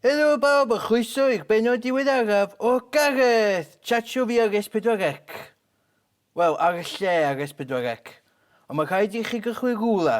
Helo bawb a chroeso i'r bennod diweddaraf o Gareth! Chat Show fi ar S4C. Wel, ar y lle ar S4C. Ond mae rhaid i chi gychwyn rhywle.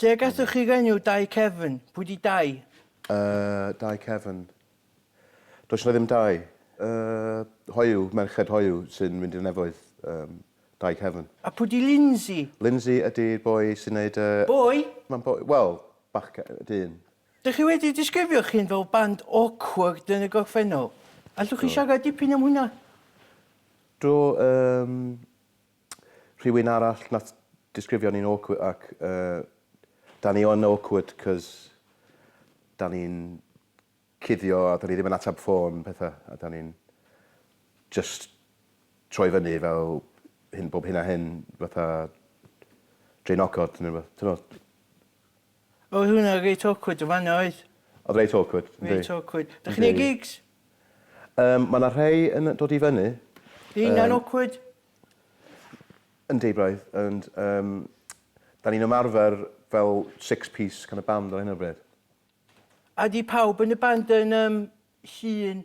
Lle y gathoch chi'r enw Dai Cefn? Pwy di Dai? Yy, Dai Cefn. Does yna ddim Dai. Yy, hoyw, merched hoyw sy'n mynd i'r nefoedd. Yym, Dai Cefn. A pwy di Lindsay? Lindsay ydi boi sy'n neud y... Boi? Mae'n boi, wel, bachge- dyn. Dych chi wedi disgrifio'ch hun fel band awkward yn y gorffennol. Allwch chi siarad dipyn am hwnna? Do, yym, Rhywun arall nath disgrifio ni'n awkward ac yy 'dan ni yn awkward 'c'os 'dan ni'n cuddio a 'dan ni ddim yn atab ffôn petha a 'dan ni'n jyst troi fyny fel hyn bob hyn a hyn fatha draenogod ne' rwbeth t'mod? Oedd hwnna reit awkward yn fan'na oedd? Oedd reit awkward, yndi. Reit awkward. Dach chi'n neud gigs? Yym ma' 'na rhei yn dod i fyny. Ydi hynna'n awkward? Yndi braidd ond yym 'dan ni'n ymarfer fel six piece kind of band ar hyn o bryd. A 'di pawb yn y band yn yym llun?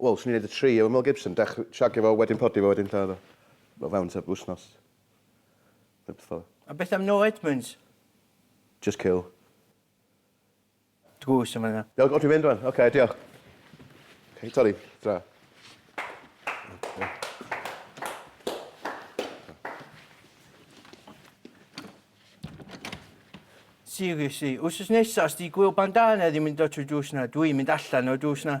Wel, swn i'n neud y tri efo Mel Gibson, dech- shagio fo, wedyn prodi fo, wedyn lladd o. O fewn tua wsnos. Ne' beth fel 'a. A beth am No Edmunds? Jyst kill. Drws yn fan'na. Iawn, o dwi'n mynd rwan. Ocê, diolch. Hei Tori, tra. Seriously, wsos nesa os 'di gwyl bandana ddim yn dod trwy drws 'na, dwi'n mynd allan o'r drws 'na.